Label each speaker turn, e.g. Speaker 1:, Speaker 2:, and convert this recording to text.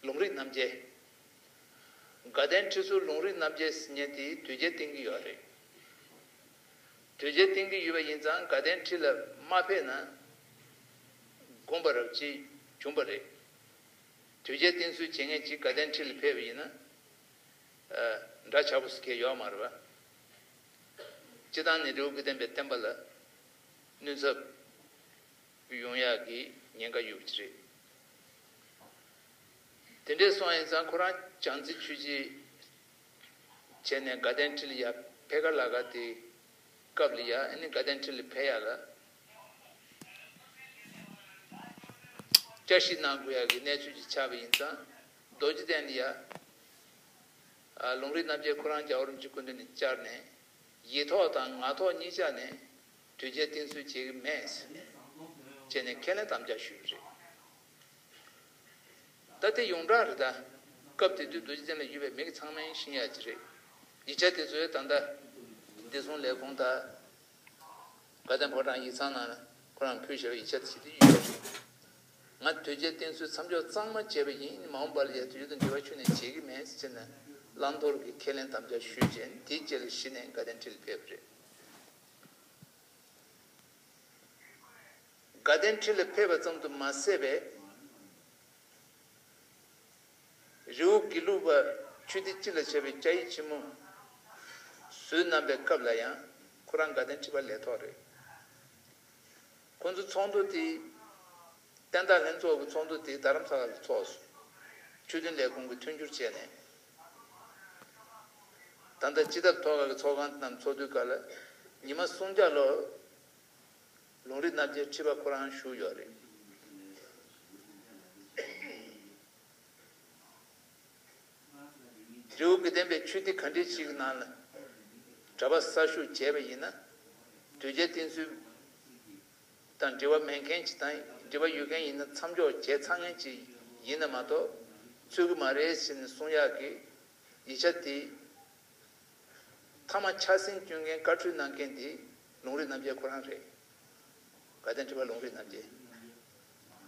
Speaker 1: ལུང་རིགས་རྣམ་རྒྱལ། དགའ་ལྡན་ཁྲི་ཟུར་ལུང་རིགས་རྣམ་རྒྱལ་ཟེར་ཉན་དེའི་དུས་རྒྱལ་བསྟེན་གྱི་ཡོད་རེད། དུས་རྒྱལ་བསྟེན་གྱི་ཡོད་པ་ཡིན་ཙང་དགའ་ལྡན་ཁྲི་ལ་མ་ཕེབས་ན་དགོངས་པ་རབ་ཅིག་གྱོང་པ་རེད། དུས་རྒྱལ་བསྟེན་ཚུལ་བྱེད་མཁན་ཅིག་དགའ་ལྡན་ཁྲི་ལ་ཕེབས་པ་ཡིན་ན་འདྲ་ཆགས་པོ་ཟེར་མཁན་ཡོད་མ་རེད་པ། སྤྱི་བཏང་ནི་རེའུ་གི་བསྟན་པའི་བསྟན་པ་ལ་གནོད་ཚབ། བུ་ཡོང་ཡག་གི་ཉེན་ཁ་ཡོད་པ་ཅི་རེད། དེ་འདྲས་སོང་ཡིན་ཙང་ཁོ་རང་བྱང་རྩེ་ཆུས་ཆེད་བྱས་ནས་དགའ་ལྡན་ཁྲི་ལ་ཡར་ཕེ་ག་ལ་ག་དེ་སྐབས་ལ་ཡར་ཨ་ནི་དགའ་ལྡན་ཁྲི་ལ་ཕེ་ཡག་ལ་བསྐྱར་ཞིག་གནང་དགོས་ཡག་གི་གནས་ཚུལ་ཅིག་ཆགས་པ་ཡིན་ཙང་རྡོ་རྗེ་གདན་ལ་ཡར་ལུང་རིགས་རྣམ་རྒྱལ་ཁོ་རང་རྒྱ་བོར་འཇུག་སྐུ་མདུན་ནས་བཅར་ནས་ཡིད་ཐོག་དང་ངག་ཐོག་གཉིས་བཅར་ནས་གྲོས་འཆར་བསྟན་ཚུལ་བྱེད་ཀྱི་མེད། བྱས་ནས་ཁས་ལེན་དམ་བཅའ་ཞུས་པ་རེད། ད་དེ་ཡོངས་གྲགས་རེད་ད། སྐབས་དེ་དུས་རྡོ་རྗེ་བཙན་ལ་ཡོད་པའི་མི་གི་ཚང་མའི་ཤིང་ཡག་ཅིག་རེད། ཡིག་ཆ་དེ་ཚོའི་ད་ལྟ། བདེ་སྲུང་ལས་ཁུངས་དང། དགའ་ལྡན་ཕོ་བྲང་ཡིག་ཚང་ནང་ལ་ཁོ་རང་ཕུལ་ཞེས་པ་ཡིག་ཆ་དེ་ཞིག་དེ་ཡོད་རེད། ང་གྲོས་འཆར་བསྟན་ཚུལ་མཚམས་འཇོག་གཙང་མ་བྱས་པ་ཡིན་མ་འོངས་པ་ལ་ཡང་དེ་ཡུལ་དང་འབྲེལ་བ་ཆུད་ནས་བྱེད་ཀྱི་མེད་ཅེས་ནཱ་ལནྡོར་གྱིས་ཁས་ལེན་དམ་བཅའ་ཞུས་རྗེས་དེའི་རྗེས་ལ་གཞི་ནས་དགའ་ལྡན་ཁྲི་ལ་ཕེབས་པ་རེད། དགའ་ལྡན་ཁྲི་ལ་ཕེབས་པ་ཙམ་དུ་མ་ཟད་པའི། རེའུ་དགེ་ལུགས་པ་ཆོས་སྡེ་སྤྱི་ལ་བྱ་བའི་བཅའ་ཡིག་ཆེན་མོ་བཟོས་གནང་པའི་སྐབས་ལ་ཡང་ཁོ་རང་དགའ་ལྡན་ཁྲི་པ་ལས་ཐོག་རེད། ཁོ་ཚོ་ཚོགས་འདུ་དེ། བསྟན་བདག་ལྷན་ཚོགས་ཀྱི་ཚོགས་འདུ་དེ་རྡ་རམ་ས་ལ་ལ་ཚོགས་སོང། ཆོས་དོན་ལས་ཁུངས་ཀྱི་མཐུན་འགྱུར་བྱས་ནས། ད་ལྟ་སྤྱི་ཐབ་ཐོག་ཁག་གི་ཚོགས་ཁང་རྣམས་ཚོགས་དུས་འགའ་ལ། ཉི་མ་སུམ་བརྒྱ་ལོར། ལུང་རིགས་རྣམ་རྒྱལ་ཁྲི་པ་ཁོ་རང་བཞུགས་ཡོད་རེད། རེའུ་མིག་ལྡན་པའི་ཆོས་སྡེ་ག་འདྲའི་ཞིག་གི་ནང་ལ། གྲྭ་པ་གསར་ཞུགས་བྱས་པ་ཡིན་ན། དུས་བརྒྱད་བསྟེན་ཚུལ། དང་འབྲེལ་བ་མེད་མཁན་གྱི་དང་འབྲེལ་བ་ཡོད་མཁན་ཡིན་ན་མཚམས་འཇོག་བྱས་ཚར་མཁན་གྱི་ཡིན་ན་མ་གཏོགས་རྩོད་གི་མ་རེད་ཟེར་ནས་གསུང་ཡག་གི། ཡིག་ཆ་དེ། མཐའ་མ་འཁྱག་ཟིན་བསྐྱོན་མཁན་བཀའ་འཁྲོལ་གནང་མཁན་དེ་ལུང་རིགས་རྣམ་རྒྱལ་ཁོ་རང་རེད། དགའ་ལྡན་ཁྲི་པ་ལུང་རིགས་རྣམ་རྒྱལ།